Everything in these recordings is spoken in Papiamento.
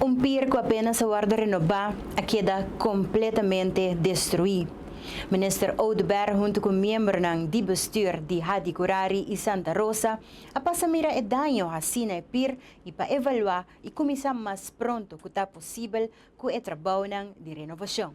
Un pier cu apenas a wordo renoba a keda completamente destrui. Minister Oduber hunto cu miembronan di bestuur di Hadi Curari y Santa Rosa a pasa mira e daño haci na e pier y pa evalua y cuminsa mas pronto cu ta posibel cu e trabounan di renovacion.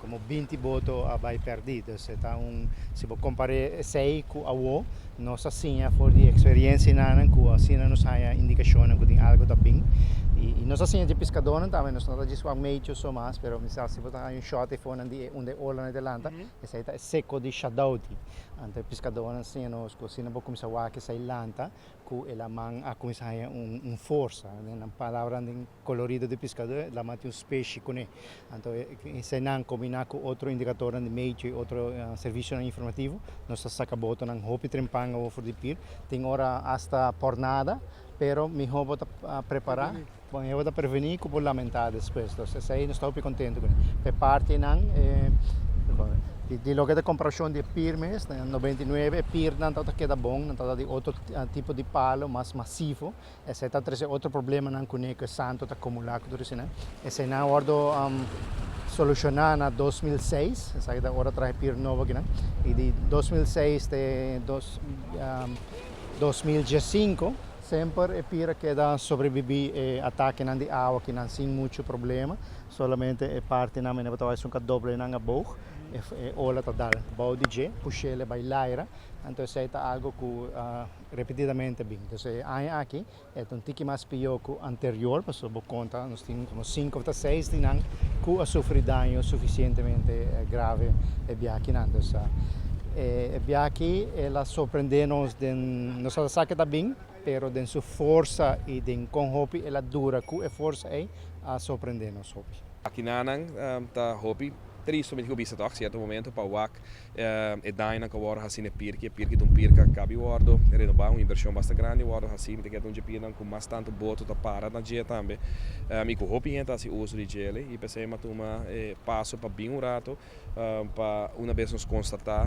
Komo binti boto a bai pèrdí, dus e ta un, si bo kompar'é esei ku awo, nos a siña for di eksperiensianan ku asina nos haña indikashonnan ku tin algu ta bin. I i nos a siña dje piskadónan tambe, nos no ta dje su ameichu so mas, pero mi sa si bo ta haña un shòt efonan di e unda e ola na e lanta, esei ta e seko di Shadouti. Anto e piskadónan siña nos ku asina bo kuminsá wak esei lanta ku el a man a kuminsá haña un forsa, den nan palabranan den. Colorido di piskadó e laman tin un speshi kuné. Anto eseinan kombiná ku otro indikatornan di medio i otro servisionan informativo nos ta saka botonan hopi trempan awor for di pir, tin ora asta por nada, pero mihó bo ta prepará, bo mihó bo ta prevení ku bo lamentá despues. Entonces esei nos ta hopi kontentu kuné. Pa e parti nan di loke ta komparashon di e pir mes, na noventa i nuebe e pirnan tabata keda bon, nan tabata di otro tipo di palo mas masivo. Esei ta trese otro problemanan kuné ku e santo ta kumulá ku tur eseinan. Eseinan a wòrdu solushoná na dos mil seis, esaki ta ora traha e pir nobo akinan, i di dos mil seis te dos dos mil diesinko, semper e pir a keda sobrebibí e atakenan di awa akinan sin muchu problema, solamente e partinan mene'e bo ta wak esun ka doblenan aboug, e ola ta dal bou di dje, pushel e bai laira, anto esei ta algu ku. Repetidamente bin. Entonces e aña aki e ta un tiki mas pior cu anterior pasobra bo conta nos tin como cinco of ta seis di nan cu a sufri daño suficientemente grave e biakinan. Entonces e biaki el a sorprende nos den, nos a sa cu e ta bin pero den su forsa y den con hopi el a dura cu e forsa ey a sorprende nos hopi. Biakinanan ta hopi triste, mi tin cu bisa toc cierto momento pa wak E dañonan ka wòrdu hasi n'e pirki, e pirki ta un pirki a kabi wòrdu renobá, un invershon basta grandi wòrdu hasi. Mi ta keda un djepina ku mas tantu boto ta para na dje tambe i ku hopi hende ta hasi uso di djele. I p'esei mi a tuma e paso pa bin un ratu pa una bes nos konstatá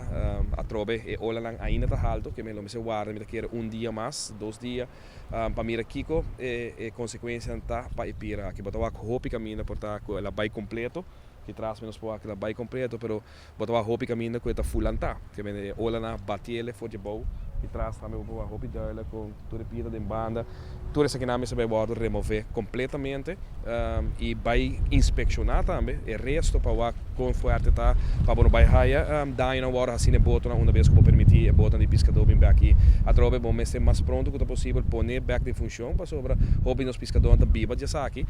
atrobe e olanan ainda ta haltu ke mi lo mester warda, mi ta kere un dia mas, dos dia, pa mira kiko e konsekuensianan ta pa e pira aki. Bo ta wak hopi kaminda por ta ku el a bai kompleto, ki tras mi nos por wak el a bai kompleto, pero Bo ta wak hopi kaminda ku e ta full lantá. Kende e olanan a batiele for dje bou i tras tambe bo por wak hopi dùila kon tur e piedra den banda. Tur esakinan mester bai wòrdu remové kompletamente i bai inspekshoná tambe e resto pa wak kon fuerte ta pa bo no bai haya dañonan wòrdu hasí na e botonan una bes ku bo permití e botonan di piskadó bin bai aki. Atrobe bo mester mas pronto ku ta posibel pon'é bèk den funshon pasobra hopi di nos piskadónan ta biba di esaki.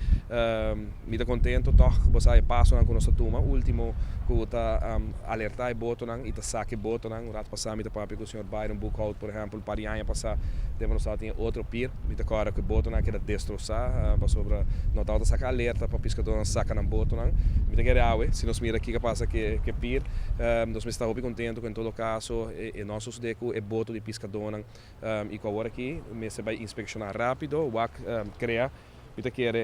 Mi ta contento toch cu bosa e pasonan cu nos ta tuma, ultimo cu ta alerta e botonan y ta saca e botonan. Un rato pasa mi ta papia cu señor Byron Boeckhout, por ejemplo, un par di aña pasa, tempo nos tabata den otro pir. Mi ta corda cu e botonan a keda destroza pasobra no tabata saca alerta pa piscadornan saca nan botonan. Mi ta kere awe, si nos mira kica pasa cu e pir, nos mester ta hopi contento cu en todo caso e no a sucede cu e boto di piscadornan y cu awor aki mester bay inspecciona rapido, wak crea. Mi ta kere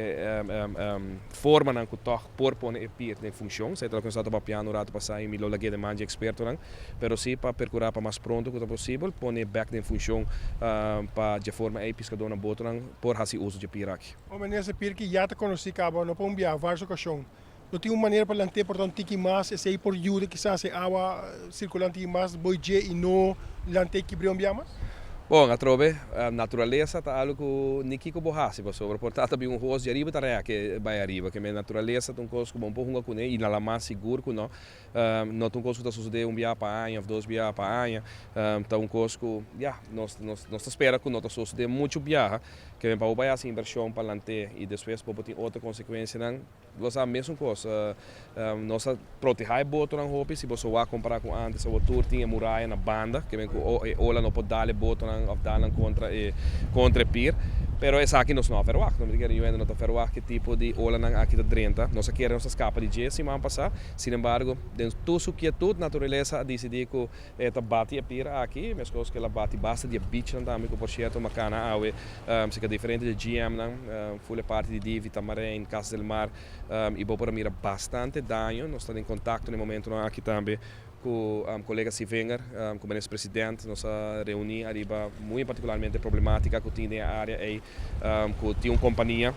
formanan ku tòg por pone e pier den funshon. Sa e ta lo ku nos a tabao piando un ratu pasá i mi lo lag'é den man dje ekspertonan. Pero sí pa perkurá pa mas pronto ku ta posibel pone e bèk den funshon pa dje forma ei piskadónan, botonan por hasi uso dje pier aki. Omen di ese pier ku ya ta konosí kaba no pa un biaha vars okashon. no tin un manera pa lant'é por ta un tiki mas, esei por yuda kisas e awa sirkula un tiki mas boi dje i no lant'é kibr'é un biaha mas? Bon, atrobe, naturalesa ta algu ku ni kiko bo hasi pasobra por ta ta bin un hos di ariba ta rèk e bai ariba. Kemey, naturalesa ta un kos ku bo no por hunga kuné i na la mas sigur ku no. No ta un kos ku ta sosodé un biaha pa aña òf dos biaha pa aña. Ta un kos ku, ya, nos, nos, nos ta spera ku no ta sosodé muchu biaha. Ke men pa bo bai hasi invershon palante i despues por bo tin otro konsekuensianan. Lo sa, mesun kos, nos a protehá e botonan hopi. Si bo so wak kompará ku antes, awor tur tin e muraya na banda. Ke men ku e ola no por dal e botonan òf dannan kontra e, kontra e pir. Pero esaki nos no a ferwak. Nos mester kere, yu hende no ta ferwak ki tipo di olanan aki ta drenta. Nos a kere, nos a skapa di dje siman pasá. Sin embargo, den tur su kietut, naturalesa a disidí ku e ta bati e pir aki, meskos ku el a bati basta di e bichnan tambe, ku por sierto Makana awe, si ka diferente di e GMnan, ful e parti di Divi, Tamarijn, Casa del Mar, i bo por a mira bastante daño. Nos ta den kontakto na e momentunan aki tambe. Ku kolega Sivinger, ku Minister President, nos a reuní ariba muy en particularmente problematica ku tin den e área ei, ku tin un kompania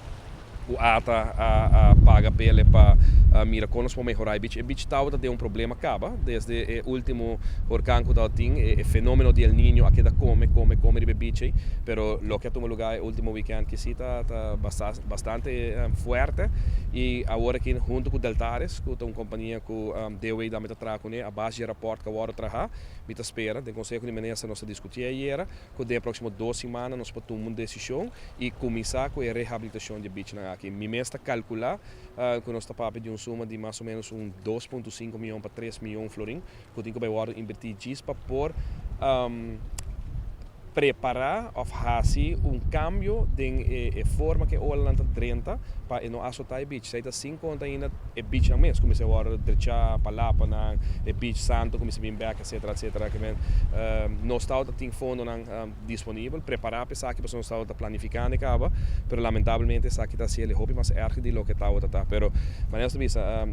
ku ata a paga pele pa mira kon nos por mehorá e bich. E bich tabata den un problema kaba desde e último horkan ku tabata tin, e fenomeno di El Niño a keda kome, kome, kome riba e bich ei, pero loke a tuma lugá e último weekend aki si ta ta bastante fuerte i awor aki hunto ku Deltares ku ta un kompania ku. Deo ei dan mi ta traha kuné a base dje raport ka worde trahá. Mi ta spera den konseho di minister nos ta diskutié ayera ku den e próksimo dos simana nos por tuma un desishon i kuminsá ku e rehabilitashon dje bichinan aki. Mi mes ta kalkulá ku nos ta papia di un suma di mas o ménos un dos punto sinku mion pa tres mion florin ku tin ku bai worde inbertí djis pa por Prepará òf hasi un kambio den e forma ku e olanan ta drenta pa e no asotá e bich. Esei ta sin konta ainda e bichnan mes kuminsá a wòrdu drechá pa lapanan, e bich santo kuminsá bin bèk, etsetera, etsetera. Kimen nos tabata tin fondonan disponibel. Prepará pa esaki pasobra nos tabata planifikando e kaba, pero lamentablemente esaki ta hasiel e hopi mas èrger di loke e tabata ta. Pero manera nos ta bisa,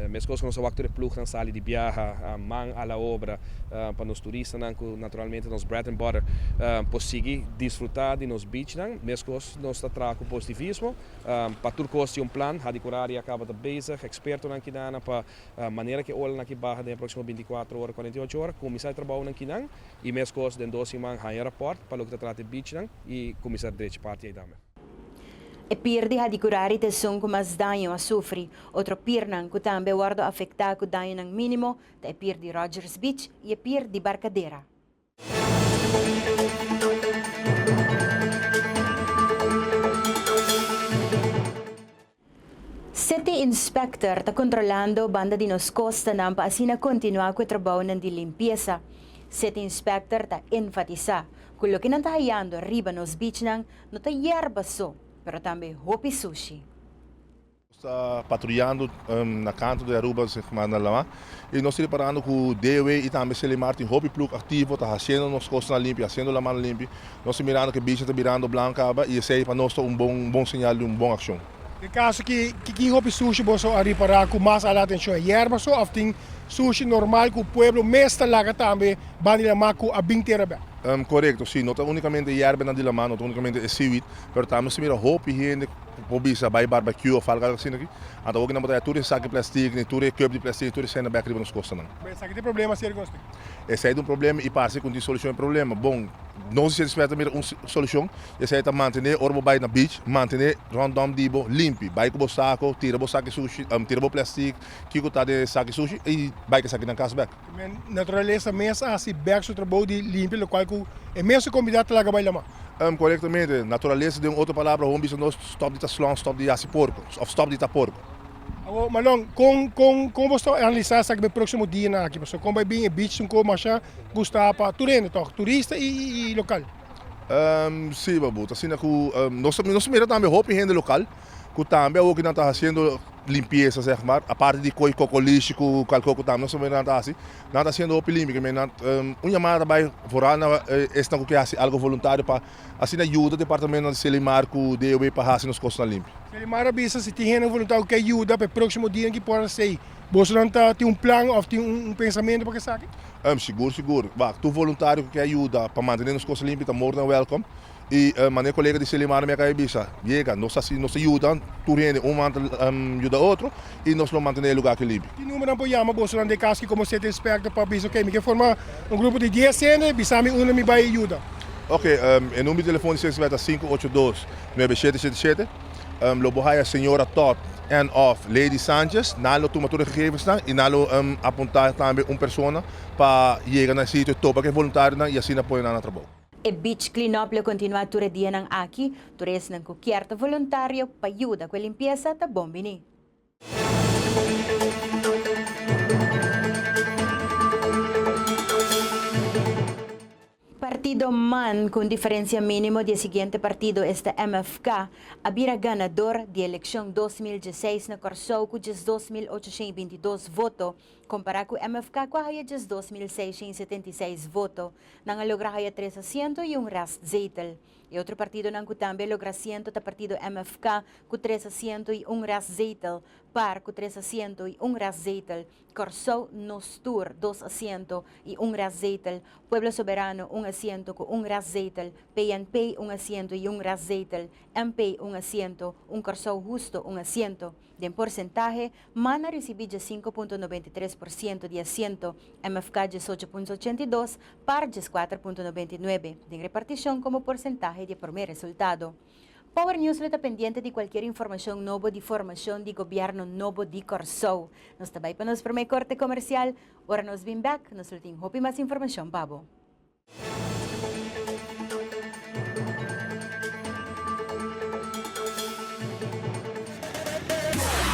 meskos ku nos a wak tur e plugnan sali di biaha, man a la obra, pa nos turistanan ku. Naturalmente nos bread and butter por sigui disfruta di nos beachnan, mescos nos ta traha cu positivismo. Pa tur cos tin un plan, Hadi Curari a caba ta bezig, expertonan kinan, pa manera cu e olanan aki baha den e proximo binti cuatro ora, cuarenta y ocho ora, cuminsa e trabounan kinan y mescos den dos siman haya un rapport pa loke ta trata e beachnan y cuminsa drechi parti ey tambe. E pier di Hadi Curari ta esun cu mas daño a sufri. Otro piernan cu tambe a wordo afecta cu dañonan minimo ta e pier di Rogers Beach y e pier di Barcadera. City Inspector ta controlando banda di nos costanan pa asina continua cu e trabounan di limpieza. City Inspector ta enfatisa cu loke nan ta hayando riba nos beachnan no ta yerba so, pero tambe hopi sushi. Nos ta patruyando na kantu di Aruba sigma na Lama y nos ta reparando cu DW y tambe Selimar tin hopi plug activo ta haciendo nos costa limpi, haciendo Lama limpi. Nos ta mirando cu e bichi ta birando blanco caba y esey pa nos ta un bon bon señal di un bon accion. Na e caso aki kico hopi sushi boso a ripara cu mas ala atencion? E yerba so of tin sushi normal cu pueblo mes ta laga tambe ban di Lama cu a bin tera bek? Corecto si, no ta unicamente e yerbenan di Lama, no ta unicamente e seaweed pero tambe nos ta mira hopi hende Bo bisa bai barbecue of algo asina aki, anto awor ki nan bo ta haya tur e sak di plastic ni tur e cup di plastic ni tur esai na bek riba nos costanan. Bo esaki ta e problema si algun aspecto? Esai ta un problema y parse ki un tin solucion e problema. Bon, nos di Sint Eusebio ta mira un solucion y esai ta mantene ora bo bai na beach, mantene rondom di bo limpi. Bai cu bo saco, tira bo saki sushi, tira bo plastic, kico ta den e saki sushi y bai cu e sakinan cas bek. Naturalesa mes a hasi bek su trabou di limpia lokual ku e mes su komunidad ta laga bai la ma. Korektamente, naturalesa den otro palabra hopi bisa nos stop di ta slon, stop di hasi porku of stop di ta porku. Awor Malon, kon kon kon boso ta analisá esaki be próksimo dianan aki pasobra kon bai bin e beach Suncoast masha gustá pa tur hende tòg, turista i lokal? Si, papu, ta asina ku nos ta mira tambe hopi hende lokal. ku tambe awo ki nan ta hasiendo limpiesa seg mar aparte di koi kokolishi ku kalko ku tambe nos familia nan ta hasi nan ta hasiendo hopi limpia ke me nan un yamada ta bai foral na esnan ku ke hasi algu voluntario pa asina yuda departamentonan di cielo i mar ku DOB pa hasi nos kostanan limpio. Selimar a bisa si tin hende voluntario ku ke yuda pa e proksimo dianan ki por a hasi ei bosonan ta tin un plan òf tin un pensamentu pa ke esaki? Sigur sigur wak tur voluntario ku ke yuda pa mantene nos kosta limpio ta more dan wèlkom. I mane e kolega di Selimar mi a kai bisa, Yega, nos ta nos ta yuda tur hende, un manda yuda otro i nos lo mantené e lugá aki limpi. Ki numeronan por yama bosonan den kas ki komo esei ta inspecto pa bisa, Oke, mi ke forma un grupo di dies hende, bisa mi unda mi bai yuda? Oke, e numer di telefon di CSW ta sinku ocho dos, nuebe shete shete shete. Lo bo haya Señora Todd èn òf Lady Sanchez. Nan lo tuma tur e gegevensnan i nan lo apuntá tambe un persona pa yega na e sitio, topa ku e voluntarionan i asina pone nan na trabou. E beach cleanup lo continua tur e dianan aki. Tur esnan cu kier ta voluntario pa yuda cu e limpiesa ta bon bini. Partido man cu un diferencia minimo di e siguiente partido esta MFK a bira ganador di e eleccion dos mil diesseis na Corsou cu diesdos mil ochocientos y bintidos voto compara cu MFK cu a haya diesdos mil seiscientos y setenta y seis voto Nan a logra haya tres asiento y un restzetel. E otro partidonan cu tambe a logra asiento ta partido MFK cu tres asiento y un restzetel, par cu tres asiento y un restzetel, Corsou, Nos Tur, dos asiento y un restzetel, Pueblo Soberano, un asiento cu un restzetel, PNP, un asiento y un restzetel, MP, un asiento, un Corsou Husto, un asiento. Den porsentahe, man a risibí dje sinku punto noventa i tres por siento di asiento, MFK dje socho punto ochenta i dos, par djes kuater punto noventa i nuebe, den repartishon komo porsentahe di e promé resultado. Power News lo ta pendiente di kualkier informashon nobo di formashon di gobièrnu nobo di Kòrsou. Nos ta bai pa nos promé korte komersial. Ora nos bin bèk, nos lo tin hopi mas informashon pa bo.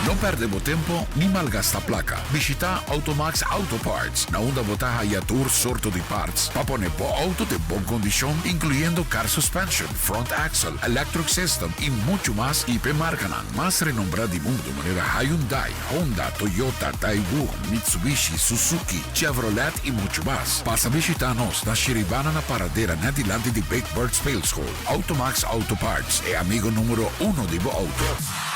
No perde bo tempo ni malgasta plaka. Bishita Automax Auto Parts, na unda bo ta haya tur sorto di parts pa pone bo auto den bon kondishon, inkluyendo car suspension, front axle, electric system i muchu mas, i p'e markanan mas renombrá di mundu manera Hyundai, Honda, Toyota, Daewoo, Mitsubishi, Suzuki, Chevrolet y mucho mas. Pasa bishita nos na Shiribana na paradera net dilanti di Big Bird Speelschool. Automax Auto Parts, e amigo numero uno di bo auto.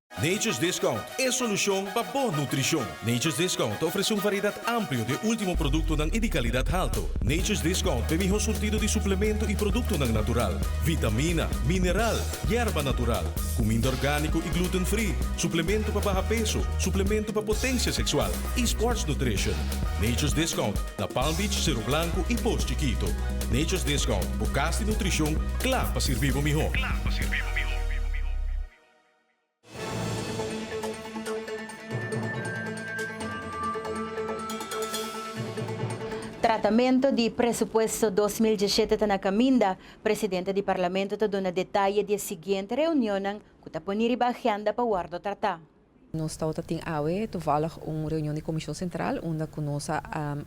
Nature's Discount, e solucion pa bo nutricion. Nature's Discount ta ofrece un variedad amplio di e ultimo productonan y di calidad halto. Nature's Discount ta e miho surtido di suplemento y productonan natural, vitamina, mineral, yerba natural, cuminda organico y gluten free, suplemento pa baha peso, suplemento pa potencia sexual y sports nutrition. Nature's Discount ta Palm Beach, Cerro Blanco y Post Chiquito. Nature's Discount, bo cas di nutricion cla pa sirbi bo miho. Tratamento di presupuesto dos mil diesete ta na kaminda, Presidente di Parlamento ta duna detaye di e siguiente reunionnan ku ta poni riba agenda pa wòrdu tratá. Nos tawata tin awe tovallig un reunion di Komishon Sentral unda ku nos a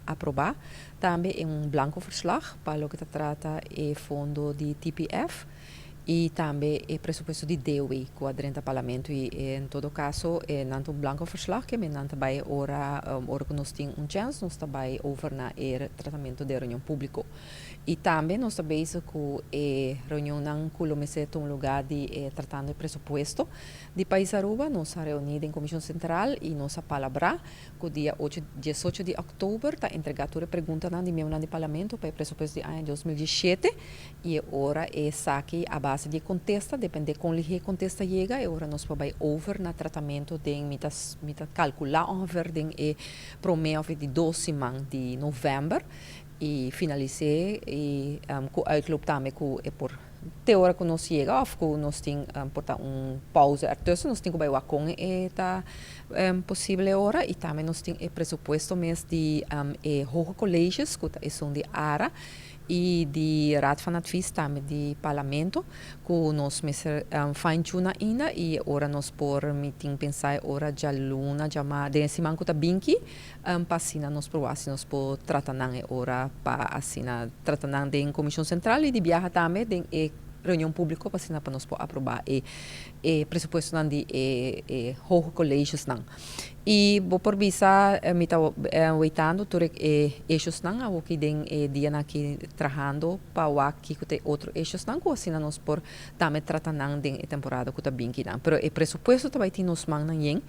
aprobá tambe un blanko verslag pa loke ta trata e fondo di TPF. y tambe e presupuesto di dewe cu a drenta Parlamento y en todo caso nan ta un blanco verslag kemi nan ta bay ora ora cu nos tin un chance nos ta bay over na e tratamento den reunion publico y tambe nos ta bezig cu e reunionnan cu lo mester tuma luga di e tratando e presupuesto di pais Aruba nos a reuni den Comision Central y nos a palabra cu dia ocho diesocho di October ta entrega tur e preguntanan di miembronan di Parlamento pa e presupuesto di aña dos mil dieschete I e ora esaki a base di e contesta, depende con lihe e contesta yega, e ora nos por bay over na tratamento den, mi ta mi ta calcula ongeveer den e prome of e di dos siman di november, y finalise y cu uitloop tambe cu e por te ora cu nos yega of cu nos tin por ta un pauze ertussen, nos tin cu bay wak con e ta posible ora y tambe nos tin e presupuesto mes di e hoge colleges cu ta esun di ara. y di Raad van Advies tambe di Parlamento cu nos mester fine tuna ainda y e ora nos por mi tin pensa e ora djaluna djama den e siman cu ta binki pa asina nos proba si nos por trata nan e ora pa asina trata nan den Comision Central y di biaha tambe den e reunion publico pa asina nos por aproba e e presupuestonan di e hoge colegiosnan. Y bo por bisa mi ta weitando tur e eshosnan awoki den e dianan aki trahando pa wak kico ta e otro eshosnan cu asina nos por tambe trata nan den e temporada cu ta binki nan. Pero e presupuesto ta bay tin nos mannan yen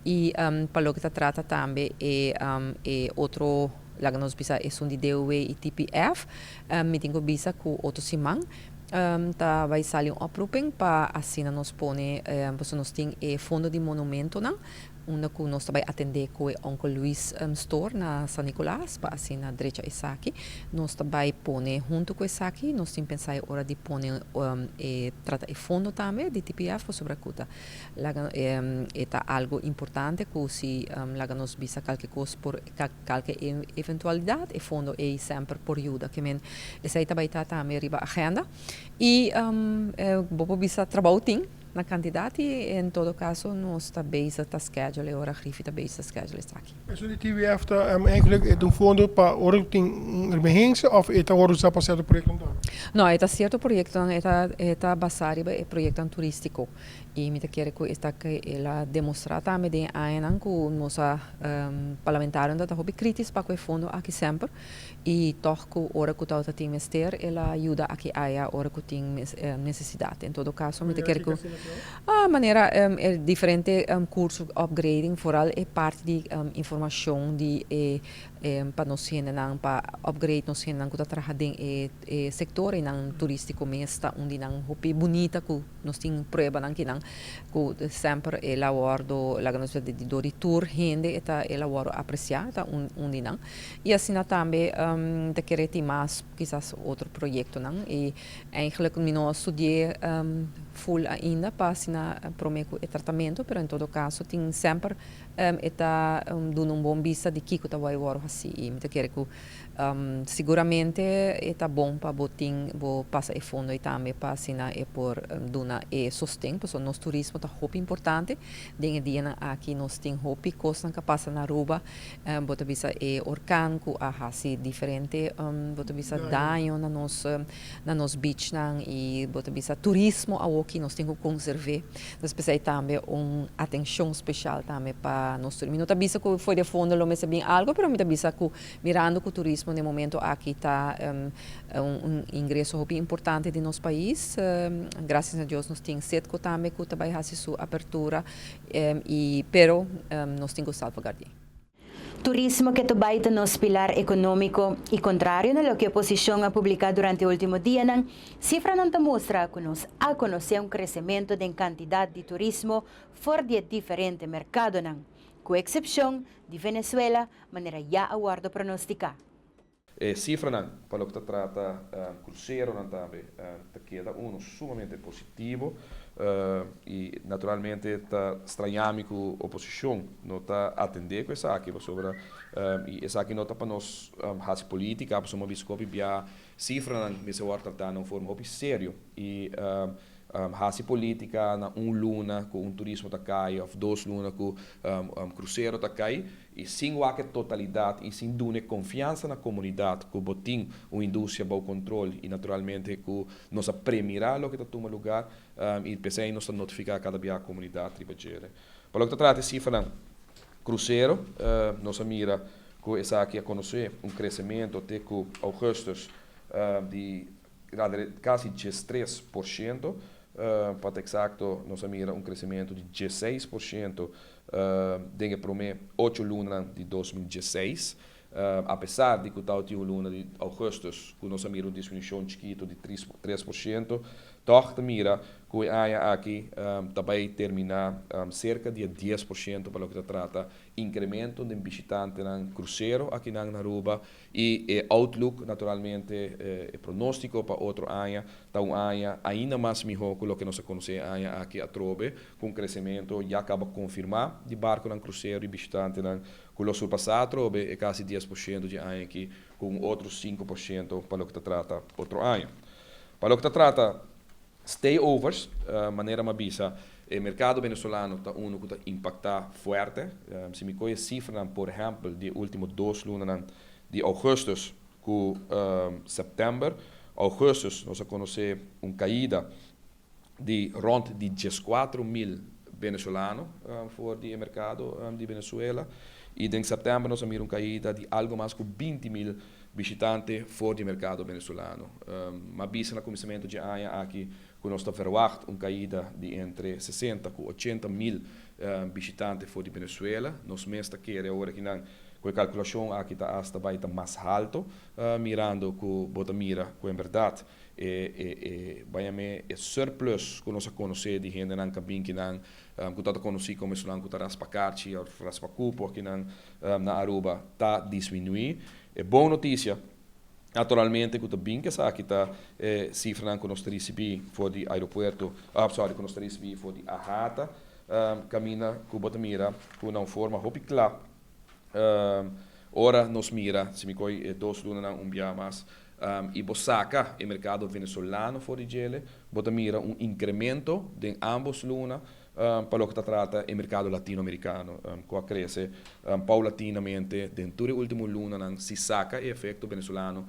y pa loke ta trata tambe e e otro laga nos bisa esun di DOW y TPF mi tin cu bisa cu otro siman Ta bai sali un oproeping pa asina nos pone pasobra nos tin e fondo di monumentonan unda ku nos ta bai atende ku e Onkel Luis Store na San Nicolas pa asina drecha esaki nos ta bai pone. Huntu ku esaki nos tin pensa e ora di pone e trata e fondo tambe di TPF pasobra ku ta laga e ta algu importante ku si laga nos bisa kalke kos por Ta kalke eventualidat e fondo ei semper por yuda. Ke men, esei ta bai ta tambe riba agenda. I bo por bisa trabou tin na kantidat i en todo kaso nos ta bezig ta schedule e ora Griffie ta bezig ta schedule esaki. Esun di TWF ta eindelijk et un fondo pa ora ku tin un emergensia of e ta wòrdu usa pa sierto proyektonan? No, e ta sierto proyektonan e ta basá riba e proyektonan turistiko. I mi ta kere ku esaki el a demostrá tambe den e añanan ku nos a parlamentarionan ta hopi krítis pa ku e fondo aki semper i tòg ku ora ku tabata tin mester el a yuda aki aya ora ku tin nesesidat. En todo kaso mi ta kere ku manera e diferente kurso opgrading foral e parti di informashon di e pa nos hendenan pa opgrade nos hendenan ku ta traha den e sektor einan turístiko mes ta un di nan hopi bunita ku Nos tin pruebanan kinan ku semper el a wòrdu laga nos wete di dor di tur hende, e ta el a wòrdu apresiá, e ta un un di nan. I asina tambe mi ta kere tin mas kisas otro proyektonan i eindelijk mi no a studié ful ainda pa asina promé ku e tratamentu pero en todo kaso tin semper e ta duna un bon bista di kiko ta wòrdu hasi i mi ta kere ku Siguramente e ta bon pa bo tin bo pasa e fondo ei tambe pa asina e por duna e sosten pasobra nos turismo ta hopi importante. Den e dianan aki nos tin hopi cosnan ca pasa na Aruba. Bo ta bisa e horcan cu a haci diferente bo ta bisa daño na nos na nos beachnan y bo ta bisa turismo awoki nos tin cu conserve. Entonces p'esei ei tambe un atencion special tambe pa nos turismo. Mi no ta bisa cu foi den fondo lo mester bin algo pero mi ta bisa cu Mirando cu turismo n'e momento aki ta un ingreso hopi importante di nos pais, gracias na Dios nos tin Setco tambe cu ta bay haci su apertura y pero nos tin cu salvaguardi. Turismo ke ta bay ta nos pilar economico y contrario na loke oposicion a publica durante ultimo dianan, cifranan ta mustra cu nos a conoce un crecemento den cantidad di turismo for di e diferente mercadonan, cu excepcion di Venezuela, manera ya a wòrdu pronosticá. E cifranan pa loke ta trata cruceronan tambe ta keda uno sumamente positivo y naturalmente ta strañami cu oposicion no ta atende cu esaki pasobra y esaki no ta pa nos haci politica pasobra bo a bisa cu hopi bia cifranan mester wòrdu tratá na un forma hopi serio y haci politica na un luna cu un turismo ta cay of dos luna cu crucero ta cay I sin wak-e totalidat i sin duna e konfiansa na komunidat ku bo tin un industria bou kontrol i naturalmente ku nos a premirá loke ta tuma lugar i p'esei nos ta notifiká kada biaha komunidat riba djere. Pa loke ta trata e sifranan krusero nos a mira ku esaki a konosé un kresementu te ku ougùstùs di ralre kasi djestres por shento, pa ta eksakto nos a mira un kresementu di djeseis por shento Den e promé ocho lunanan di dos mil dieseis, apesar di ku ta otin un luna di ougùstus ku nos a mira un disminushon chikitu di tres por shento, tòg ta mira ku e aña aki ta bai terminá serka di e dies por shento pa loke ta trata inkrementu den bishitantenan krusero akinan na Aruba I e outlook, naturalmente e pronostico pa otro aña ta un aña ainda mas miho cu loke nos a conoce e aña aki atrobe, cu un crecemento ya caba confirma di barconan crucero di bishitantenan cu lo surpasa atrobe e casi dies por ciento dje aña aki cu un otro sinku por ciento pa loke ta trata otro aña. Pa loke ta trata. Stayovers, manera m'a bisa, e merkado venezolano ta unu ku ta impaktá fuerte. Si mi kohe sifranan por ehèmpel di e último dos lunanan di ougùstus ku sèptèmber, ougùstus nos a konosé un kaida di rònt di dieskuatro mil venezolano for di e merkado di Venezuela i den sèptèmber nos a mira un kaida di algu mas ku binti mil Bishitante for di merkado Venezolano. M'a bisa na kuminsamentu dje aña aki ku nos ta verwagt un kaida di entre sesenta ku ochenta mil bishitante for di Venezuela. Nos mes ta kere ora kinan ku e kalkulashon aki ta asta bai ta mas haltu, mirando ku bo ta mira ku en bèrdat e bañamé e surplus ku nos a konosé di hendenan kabin kinan ku ta ta konosí komo esunnan ku ta raspa karchi òf raspa kupo, kinan na Aruba ta disminuí. E bon notisia naturalmente ku ta bin ku esaki ta e sifranan ku nos ta risibí for di aeropuerto, sorry, ku nos ta risibí for di AHATA, kaminda ku bo ta mira ku na un forma hopi kla ora nos mira, si mi koi e dos lunanan un biaha mas, i bo saka e merkado venezolano for di djele, bo ta mira un inkremento den ámbos luna Pa loke ta trata e merkado latinoamerikano, ku a krese paulatinamente den tur e último lunanan, si saka e efekto Benezuelano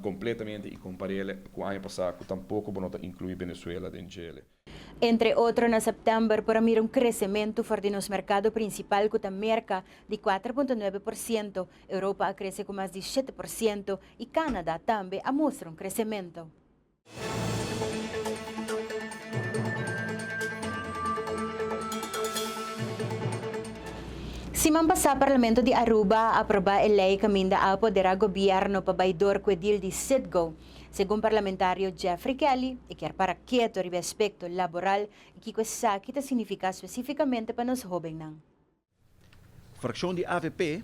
kompletamente i kompar'el ku aña pasá ku tampoko bo no ta inkluí Benezuela den djele. Entre otro na sèptèmber por a mira un kresementu for di nos merkado prinsipal ku ta Merka di kuater punto nuebe por siento, Europa a krese ku mas di shete por siento i Kánada tambe a mustra un kresementu. Siman pasá Parlamento di Aruba a aprobá e lei kaminda a apoderá gobièrnu pa bai dor ku e dil di Citgo. Segun parlamentario Jeffrey Kelly, e kier para keto riba e aspekto laboral i kiko esaki ta signifiká spesífikamente pa nos hóbennan. Frakshon di avp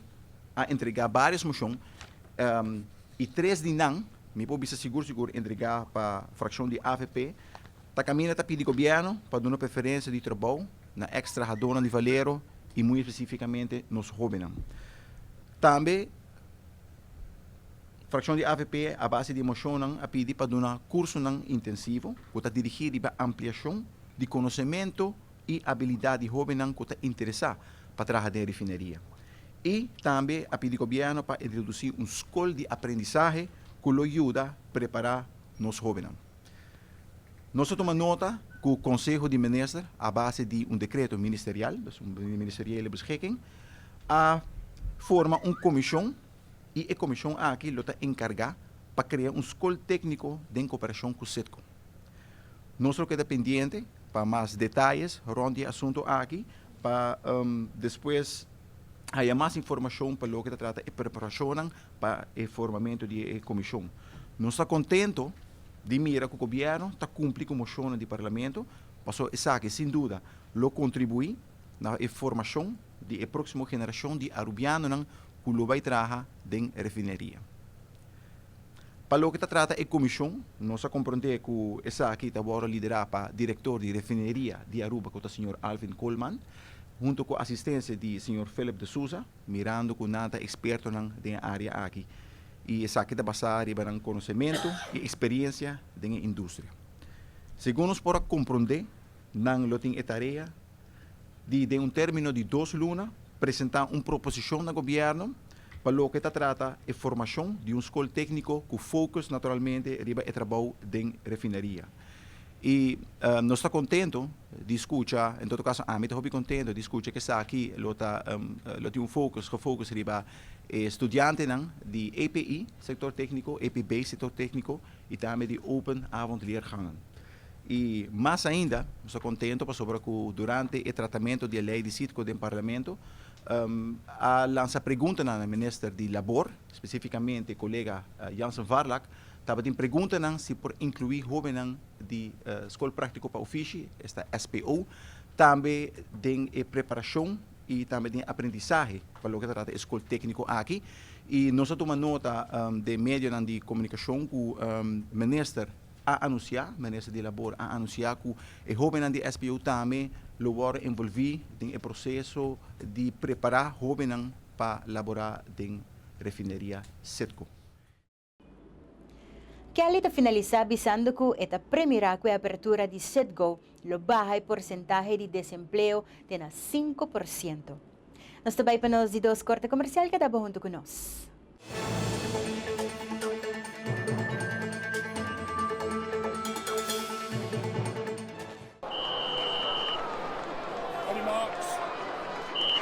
a entregá bários moshon i tres di nan, mi por bisa sigur sigur, entregá pa frakshon di avp, ta kaminda ta pidi gobièrnu pa duna preferensia di trabou na èks trahadónan di Valero i muy espesífikamente nos hóbennan. Tambe frakshon di avp a base di e moshonnan a pidi pa duna kursunan intensivo ku ta dirigí riba ampliashon di konosementu y habilidad di hobennan cu ta interesa pa traha den refineria. Y tambe a pidi gobierno pa introduci un scol di aprendizahe cu lo yuda prepara nos hobennan. Nos ta tuma nota cu Conseho di Minister a base di un decreto ministerial, dus un ministeriele beschikking, a forma un comision y e comision aki lo ta encarga pa crea un scol tecnico den cooperacion cu Citgo. Nos lo keda pendiente pa mas detayes rond di e asuntu aki pa despues haya mas informashon pa loke ta trata e preparashonnan pa e formamentu di e komishon. Nos ta kontento di mira ku gobièrnu ta kumpli ku moshonnan di Parlamento pasobra esaki sin duda lo kontribuí na e formashon di e próksimo generashon di arubianonan ku lo bai traha den refineria. Pa loke ta trata e comishon, nos a compronde cu esaki ta worde lidera pa director di Refineria di Aruba cu ta señor Alvin Colman, hunto cu asistencia di señor Philip de Sousa, mirando cu nan ta expertonan den e area aki y esaki ta basa riba nan conocemento y experiencia den e industria. Segun nos por a compronde, nan lo tin e tarea di den un termino di dos luna presenta un proposicion na gobierno pa loke ta trata e formacion di un scol tecnico cu focus naturalmente riba e trabou den refineria y nos ta contento di scucha en todo caso ami ta hopi contento di scucha cu esaki lo ta lo tin un focus gefocus riba e studiantenan di EPI sector tecnico EPB sector tecnico. y tambe di open avondleergangen. Y mas ainda nos ta contento pasobra cu durante e tratamento di e ley di Citco den Parlamento a lansa preguntanan na Minister di Labor, specificamente colega Jansen Varlak, tabatin preguntanan si por inclui hobennan di School Practico pa Ofishi, esta SPO, tambe den e preparacion y tambe den aprendizahe pa loke ta trata e School Tecnico aki y nos a tuma nota den medionan di comunicacion cu Minister a anuncia, Minister di Labor a anuncia cu e hobennan di SPU tambe lo wordo envolvi den e proceso di prepara hobennan pa labora den Refineria Citgo. Kelly ta finalisá bisando ku e ta premirá ku e apertura di Citgo lo baha e porsentahe di desempleo te na sinku por siento. Nos ta bai pa nos di dos korte komersial, keda bo huntu ku nos.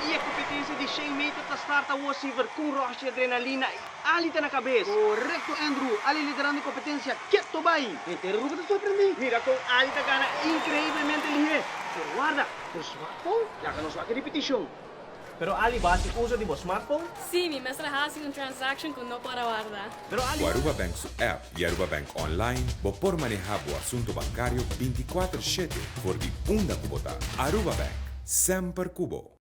Y e competencia di shen meter ta start awo Siver con rush di adrenalina y ali ta na cabes. Correcto Andrew, Ali liderando e competencia, keto bay! Henter Aruba ta sorprende. Mira con Ali ta gana increiblemente lihe. Pero warda, nos wak con? Laga nos wak e repetition. Pero Ali ba haci uzo di bo smartphone? Sí, mi mester a haci un transaction cu no por a warda. Cu Aruba Bank su app y Aruba Bank Online bo por maneha bo asunto bancario binti kuater shete for di unda cu bo ta. Aruba Bank, semper cu bo!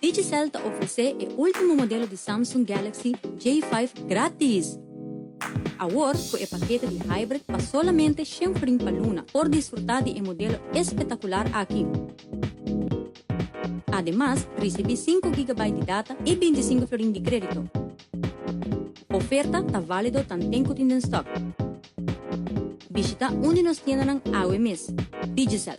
Digicel ta ofresé e último modelo di Samsung Galaxy J5 gratis! Awor cu e pakete di Hybrid pa solamente shen frin pa Luna por disfruta di e modelo espetacular aki. Ademas, ricibi sinku gigabyte di data y bintisingu florin di credito. Oferta ta valido tanten cu tin den stock. Bishita un di nos tiendanan awe mes. Digicel.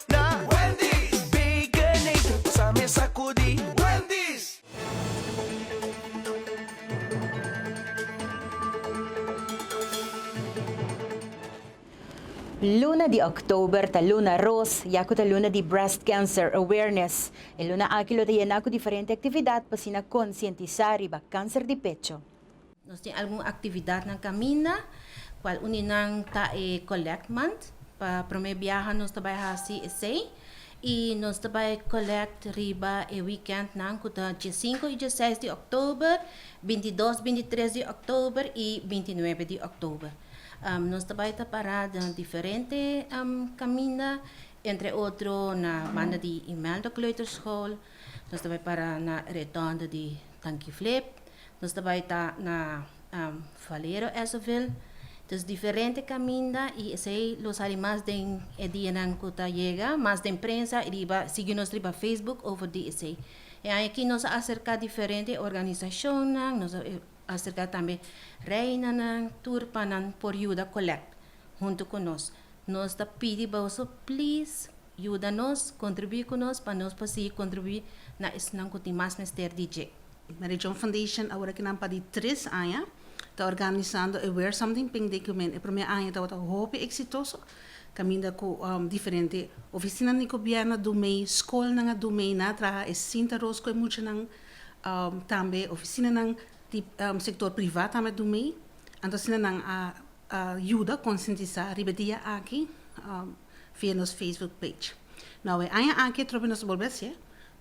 Luna di October ta Luna Ros ya cu ta luna di Breast Cancer Awareness. E luna aki lo ta yena cu diferente actividad p'asina concientisa riba cancer di pecho. Nos tin algun aktividatnan kaminda kual un di nan ta e collect month pa promé biaha nos ta bai hasi esei i nos ta bai collect riba e weekendnan ku ta diesinko i diesseis di òktober, bintidos, bintitres di òktober i bintinuebe di òktober. Nos ta bai ta pará den diferente kaminda entre otro na banda di Imelda kleuterschool, nos ta bai para na Redondo di Tanki Flip, Nos ta bai ta na Valero Esoville, dus diferente kaminda i esei lo sali mas den e dianan ku ta yega, mas den prensa riba sigui nos riba Facebook over di esei. E aña aki nos a aserká diferente organisashonnan, nos a aserká tambe reinanan, tur pa nan por yuda kolèkt huntu ku nos. Nos ta pidi boso plis yuda nos, kontribuí ku nos pa nos por sigui kontribuí na esnan ku tin mas mester di dje. Marijón Foundation awor aki nan padi tres aña ta organisando e Wear Something Pink Day cu men e prome aña tabata hopi exitoso caminda cu diferente oficinan di gobierno dun mey, scolnan a dun mey na traha e cinta roos cu e muchanan tambe oficinanan di sector priva tambe a dun mey anto asina nan a yuda conscientisa riba e dia aki via nos Facebook page. Awe aña aki atrobe nos a bolbe hacié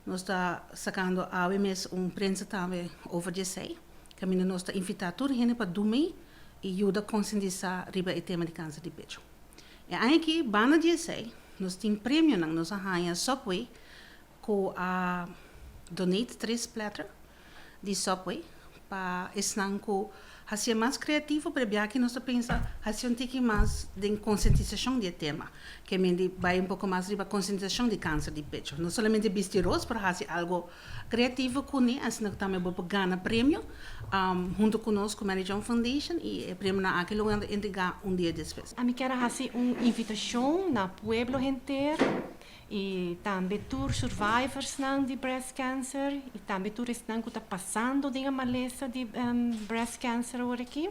Nos ta sakando awe mes un prensa tambe over di esei. Caminda nos ta invita tur hende pa dumi y yuda concientisa riba e tema di cancer di pecho. E aña aki, banda di esei, nos tin premionan. Nos a haña Subway cu a donate tres platter. di Subway pa esnan cu haci'e mas creativo, p'e'bia aki nos ta pensa haci un tiki mas den consentisacion di e tema, que men di bay un poco mas riba consentisacion di cancer di pecho. No solamente bisti ros, pero haci algo creativo cu ne, asina cu tambe bo por gana premio hunto cu nos cu Mary John Foundation y e premionan aki lo word'e entrega un dia despues. Ami kier a haci un invitacion na pueblo henter y tambe tur survivors nan di breast cancer y tambe tur esnan cu ta pasando den e malesa di breast cancer awor aki,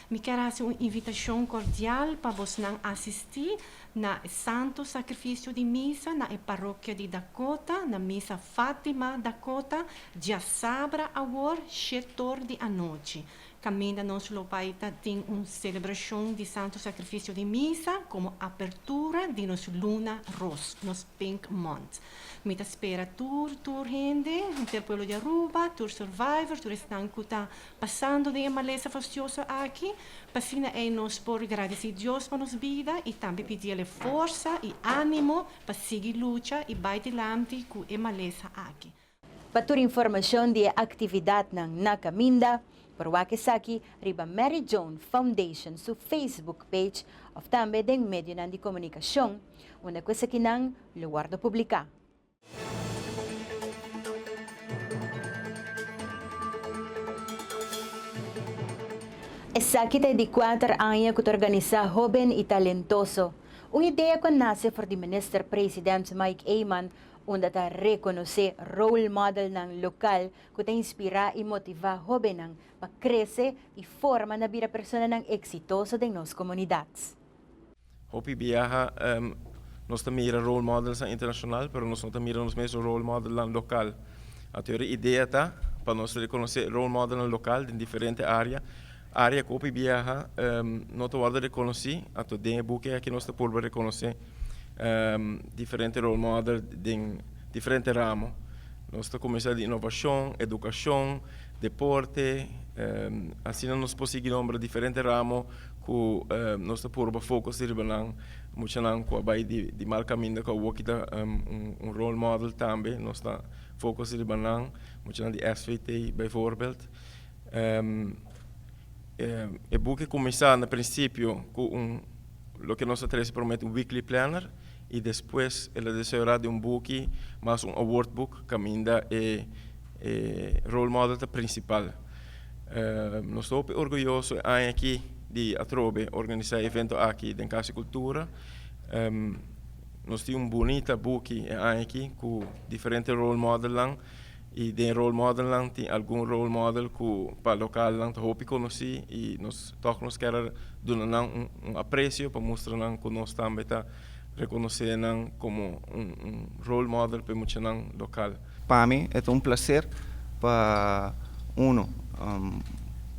mi kier haci un invitacion cordial pa bosnan asisti na e Santo Sacrificio di Misa na e Parokia di Dakota, na Misa Fatima Dakota, diasabra awor, she tor di anochi. Caminda nos lo bai ta tin un celebracion di Santo Sacrificio di Misa como apertura di nos luna ros, nos Pink Month. Mi ta spera tur, tur hende, henter pueblo di Aruba, tur survivor, tur esnan cu ta pasando den e malesa fastioso aki, pa asina ei nos por gradici Dios pa nos bida y tambe pidi el e forsa y animo pa sigui lucha y bai dilanti cu e malesa aki. Pa tur informashon di e aktividatnan na kaminda, por wak esaki riba Mary Joan Foundation su Facebook page òf tambe den medionan di komunikashon unda ku esakinan lo wòrdu publiká. Esaki ta e di kuater aña ku ta organisá Hóben i Talentoso, un idea ku a nase for di Minister President Mike Eman unda ta rekonosé role modelnan lokal ku ta inspirá i motivá hóbennan pa krese i forma na bira personanan eksitoso den nos komunidat. Hopi biaha nos ta mira role modelnan internashonal, pero nos no ta mira nos mes role modelnan lokal. Anto e idea ta pa nos rekonosé role modelnan lokal den diferente área Área ku hopi biaha no ta wòrdu rekonosí, anto den e buki aki nos ta purba rekonosé diferente role model den diferente ramo. Nos ta kuminsá di inovashon, edukashon, deporte, asina nos por sigui nombra diferente ramo ku nos ta purba fokus di riba nan. Muchanan ku a bai di mal kaminda ku awoki ta un role model tambe, nos ta fokus di riba nan, muchanan di SVT bijvoorbeeld. E buki kuminsá na prinsipio ku un loke nos ta trese promé un weekly planner i despues el a desayorá den un buki mas un award book kaminda e role model ta prinsipal. Nos ta hopi orguyoso e aña aki di atrobe organisá e evento aki den Casa di Cultura. Nos tin un bunita buki e aña aki ku diferente role modelnan. Y den role model nan tin algun role model cu pa local nan ta hopi conoci y nos tok nos kier a duna nan un aprecio pa mustra nan cu nos tambe ta reconoce nan como un role model pa e muchanan local. Pa mi e ta un placer pa uno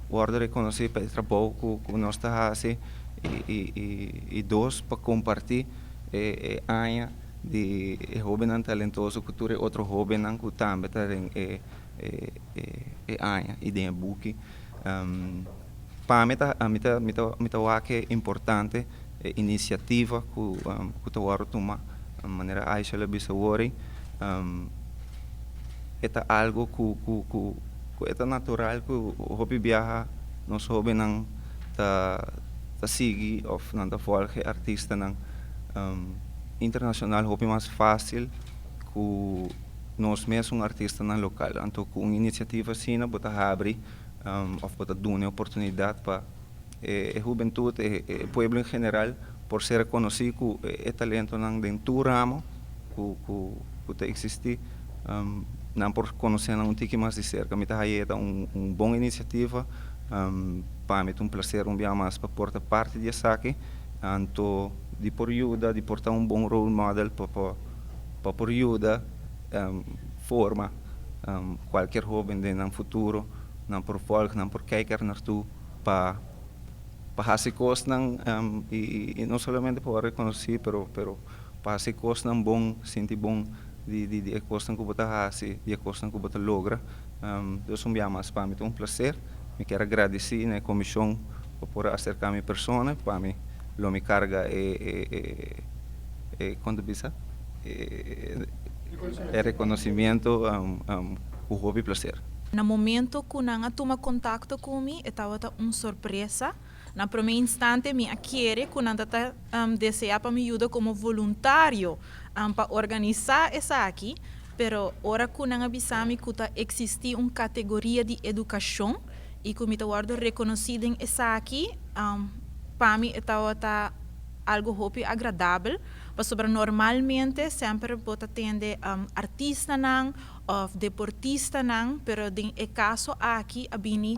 wordo reconoci pa e trabou cu nos ta haci y dos pa comparti e aña. di e hobennan talentoso ku tur e otro hobennan ku tambe ta den e e aña i den e buki. Pa mi ta mi ta mi ta mi ta wak ke importante e inisiativa ku ku ta wòrdu tuma manera Aisha lo a bisa wor e ta algu ku ku ku ku e ta natural ku hopi biaha nos hobennan ta ta sigui òf nan ta vòlge artistanan. internacional hopi mas facil cu nos mesun artistanan local. Anto cu un iniciativa asina bo ta habri of bo ta duna e oportunidad pa e hubentud, e pueblo en general por ser reconoci cu e talentonan den tur ramo cu ta existi nan por conocenan un tiki mas di cerca. Mi ta haya ye ta un bon iniciativa, pami ta un placer un bia mas pa por ta parti di esaki. Anto di por yuda, di por ta un bon role model pa por yuda forma cualkier hoben den nan futuro, nan por volg, nan por kijk er nartu pa haci cosnan y no solamente pa wor reconoci pero. Pa hasi e kosnan bon, sinti bon di e kosnan ku bo ta hasi, di e kosnan ku bo ta logra. Dos un bia mas, pa mi ta un plaser. Mi kier a gradisí na e komishon pa por a aserká mi persona i pa mi lo mi karga e e kon ta bisa e rekonosimiento ku hopi plaser. Na momento ku nan a tuma kontakto ku mi e tabata un sorpresa. Na promé instante mi a kere ku nan ta ta deseá pa mi yuda komo voluntario pa organisá esaki, pero ora ku nan a bisa mi ku ta eksistí un kategoria di edukashon i ku mi ta wòrdu rekonosí den esaki, pa mi e tabata algu hopi agradabel, pasobra normalmente semper bo ta tende artistanan òf deportistanan, pero den e kaso aki a bini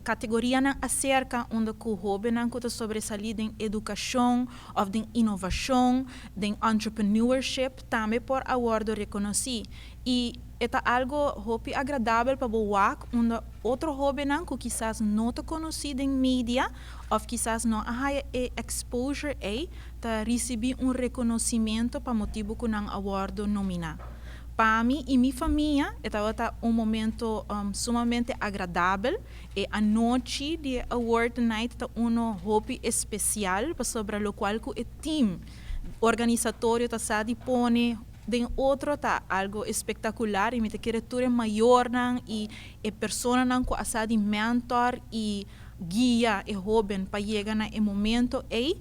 Kategorianan aserka unda ku hóbennan ku ta sobresalí den edukashon òf den inovashon, den entrepreneurship, tambe por a wòrdu rekonosí. I e ta algu hopi agradabel pa bo wak unda otro hóbennan ku kisas no ta konosí den media òf kisas no a haya e exposure ei ta risibí un rekonosimentu pa motibu ku nan a wòrdu nominá. Pa mi i mi famia e tabata un momento sumamente agradabel. E anochi di e Award Night ta uno hopi especial pasobra locual cu e team organisatorio ta sa di pone den otro ta algo espectacular y mi ta kere tur e mayornan y e personanan cu a sa di mentor y guia e hoben pa yega na e momento ey.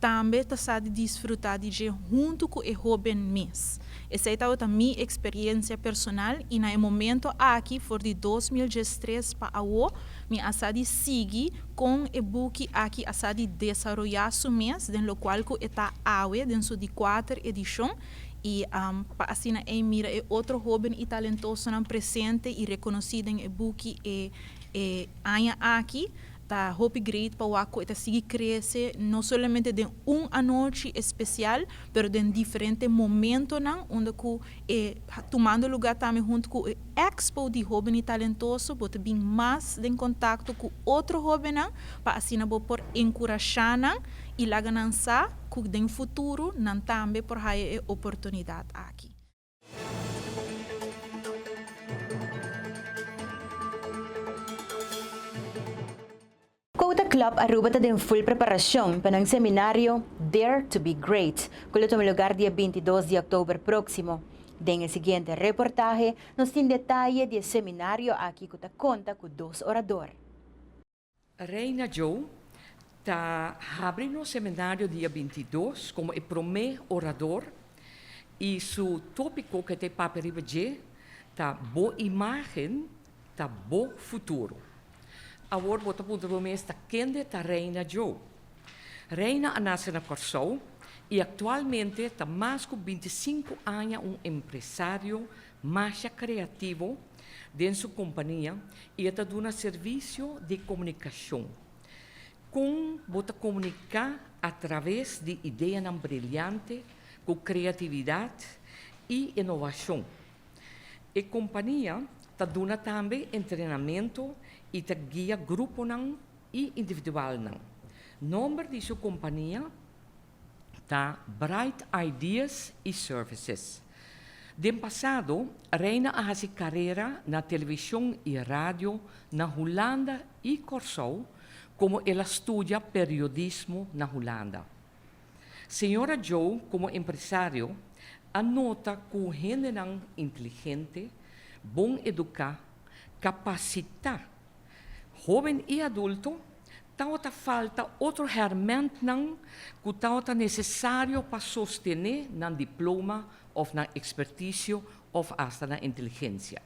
tambe ta sa di disfrutá di dje huntu ku e hóben mes. Esei tabata mi eksperiencia personal i na e momento aki for di dos mil diestres pa awo mi a sa di sigui kon e buki aki a sa di desaroyá su mes den lokual ku e ta awe den su di kuater edishon i pa asina ei mira e otro hóben i talentosonan presente i rekonosí den e buki e aña aki. Ta hopi great pa Wako e ta sigui crece no solamente den un anochi especial pero den diferente momentonan unda cu e tumando lugar tambe hunto cu e Expo di Hobeni Talentoso bo ta bin mas den contacto cu otro hobennan pa asina bo por encurasha nan y laga nan sa cu den futuro nan tambe por haya e oportunidad aki. Kouta Club Aruba ta den ful preparashon pa nan seminario Dare to be Great ku lo tuma lugar dia binti dos di òktober próksimo. Den e siguiente reportahe nos tin detaye di e seminario aki ku ta konta ku dos orador. Reina Joe ta habri nos seminario dia binti dos komo e promé orador i su tópiko ku e ta e papia riba dje ta Bo imágen ta bo futuro. Awor bo ta puntra bo mes ta kende ta Reina Joe? Reina a nase na Kòrsou i aktualmente ta mas ku binti sinku aña un empresario Masha kreativo den su kompania i e ta duna servisio di komunikashon. Kon bo ta komuniká atraves di ideanan briliante ku kreatividat i inovashon? E kompania ta duna tambe entrenamentu i ta guia gruponan i individualnan. Nòmber di su kompania? ta Bright Ideas i Services. Den pasado, Reina a hasi karera na televishon i radio na Hulanda i Kòrsou komo el a studia periodismo na Hulanda. Señora Jo komo empresario a nota ku hendenan inteligente, bon eduká, kapasitá, hóben i adulto Tabata falta otro hèrmèntnan ku tabata nesesario pa sostené nan diploma òf nan ekspertisio òf asta nan inteligensia.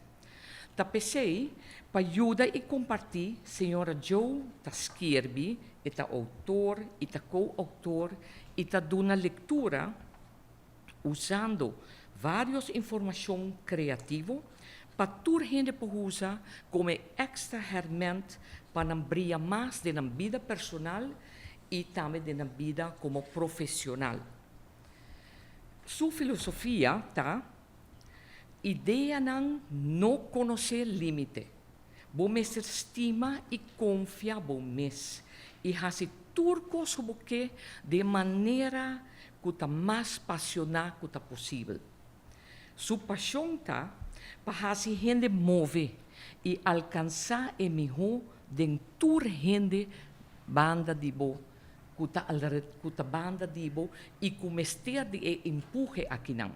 Ta p'esei, pa yuda i kompartí, señora Joe ta skirbi, e ta outor i ta ko-outor i ta duna lektura, usando varios informacion creativo pa tur hende por huza como e extra herment pa nan bria mas den nan bida personal y tambe den nan bida como profesional. Su filosofia ta, Ideanan no conoce limite. Bo mester stima i konfia bo mes i hasi tur kos ku bo ke den manera ku ta mas pasioná ku ta posibel. Su pashon ta pa hasi hende move i alkansá e mihó den tur hende banda di bo ku ta banda di bo i ku mester di e empuhe akinan.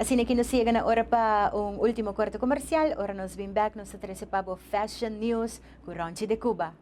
Asina ki nos yega na ora pa un ultimo korte komersial. Ora nos bin bèk nos ta trese pa bo Fashion News ku Rònchi de Kuba.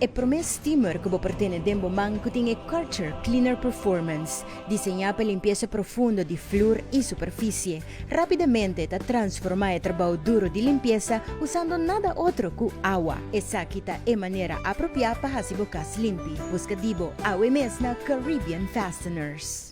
E promé steamer ku bo por tene den bo man ku tin e Karcher Cleaner Performance, diseñá pa limpiesa profundo di flur i superfisie. Rápidamente ta transformá e trabou duro di limpiesa usando nada otro ku awa. Esaki ta e manera apropiá pa hasi bo kas limpi. Buska di bo awe mes na Caribbean Fasteners.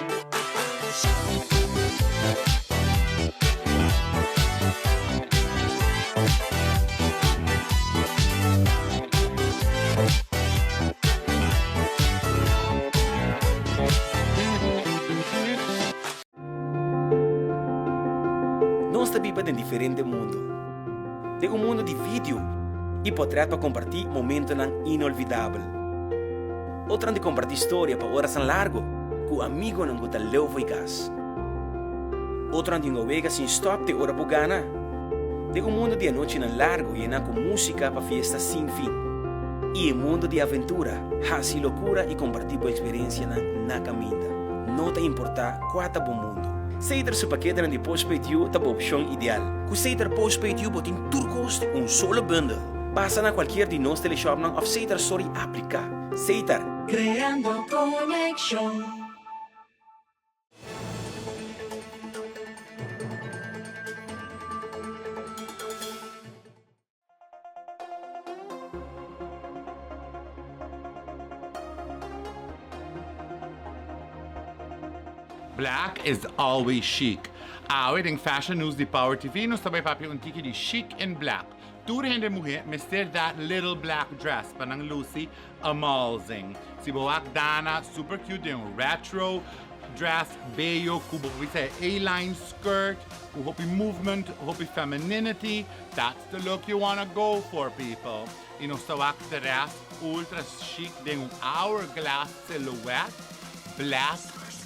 Nos ta biba den diferente mundu. T'e un mundu di video i potrèt pa kompartí momentonan inolvidabel. Otronan di kompartí storia pa orasnan largu ku amigonan ku ta leu fo'i kas. Otronan di novega sin stòp te ora por gana. Den un mundu di anochinan largu yená ku músika pa fiesta sin fin. I e mundu di aventura, hasi lokura i kompartí bo eksperensianan na kaminda, no ta importá kua ta bo mundu. Sater su paketenan di Postpaid You ta bo opshon ideal. Ku Sater Postpaid You bo tin tur kos den un solo bundel. Pasa na cualkier di nos teleshopnan of Seitar Sorry aplica. Seitar. Creando conexion. Black is always chic! Awe den Fashion News di Power TV nos ta bai papia un tiki di chic en black. Tur hende muhé mester dat little black dress pa nan luci amazing. Si bo wak Dana super cute den un retro dress bello cu bo por bisa e A-line skirt cu hopi movement, hopi femininity, that's the look you wanna go for people. Y nos ta wak tres ultra chic den un hourglass silhouette black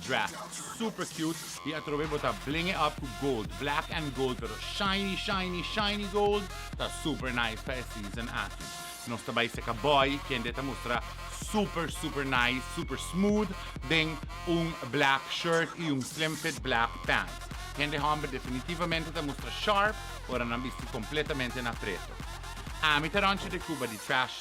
dress super cute. Y atrobe bo ta blinge up cu gold, black and gold pero shiny shiny shiny gold ta super nice pa e season aki. Nos ta bay seca boy kende ta mustra super super nice, super smooth den un black shirt y un slim fit black pant. Kende homber definitivamente ta mustra sharp ora nan bisti completamente na preto. Ami ta ranchi de Cuba di trash.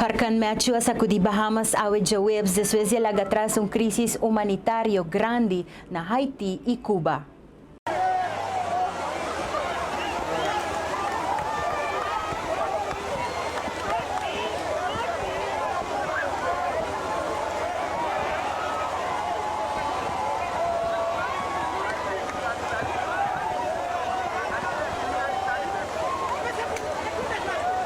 Hurkan Matthew a sakudí Bahamas awe djaweps despues di e laga tras un krísis humanitario grandi na Haití i Cuba.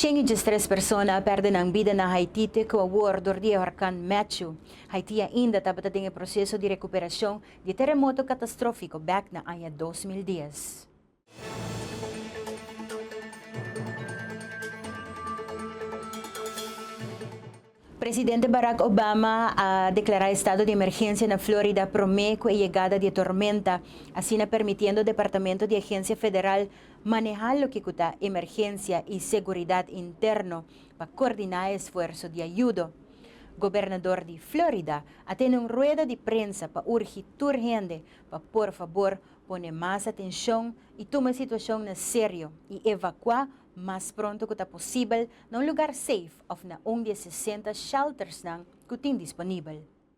Shen i diestres persona a pèrdè nan bida na Haití te kua awor dor di e horkan Matthew. Haití ainda tabata den e proseso di rekuperashon di teremoto katastrófiko bèk na aña dos mil dies. Presidente Barack Obama a deklará estado di emergensia na Florida promé ku e yegada di e tormenta, asina permitiendo Departamento di Agensia Federal manehá loke ku ta emergensia i seguridat interno pa kordiná e esfuerso di ayudo. Gobernador di Florida a tene un rueda di prensa pa urgi tur hende pa por fabor pone mas atenshon i tuma e situashon na serio i evakuá mas pronto ku ta posibel na un lugar seif òf na un di e sesenta sheltersnan ku tin disponibel.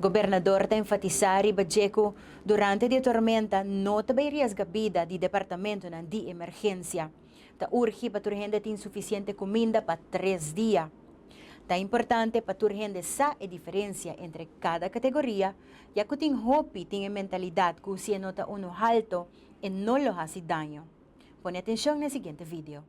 Gobernador ta enfatisá riba dje ku durante di e tormenta no ta bai riesga bida di departamentunan di emergensia. Ta urgi pa tur hende tin sufisiente kuminda pa tres dia. Ta importante pa tur hende sa e diferensia entre kada kategoria, ya ku tin hopi tin e mentalidat ku si e no ta unu halto e no lo hasi daño. Pone atenshon na e siguiente video.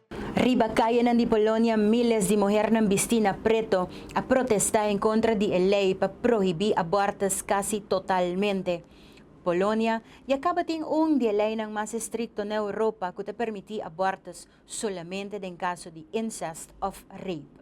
Riba kayenan di Polonia miles di muhernan bistí na preto a protestá en kontra di e lei pa prohibí abòrtus kasi totalmente. Polonia ya kaba tin un di e leinan mas estrikto na Europa ku ta permití abòrtus solamente den kaso di incest òf rape.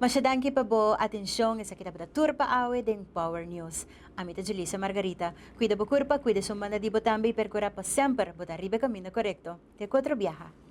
Masha danki pa bo atencion. Esaki tabata tur pa awe den Power News. Ami ta Julissa Margarita. Cuida bo curpa, cuida e sumbanda di bo tambe y percura pa semper bo ta riba e caminda corecto. Te cu otro biaha.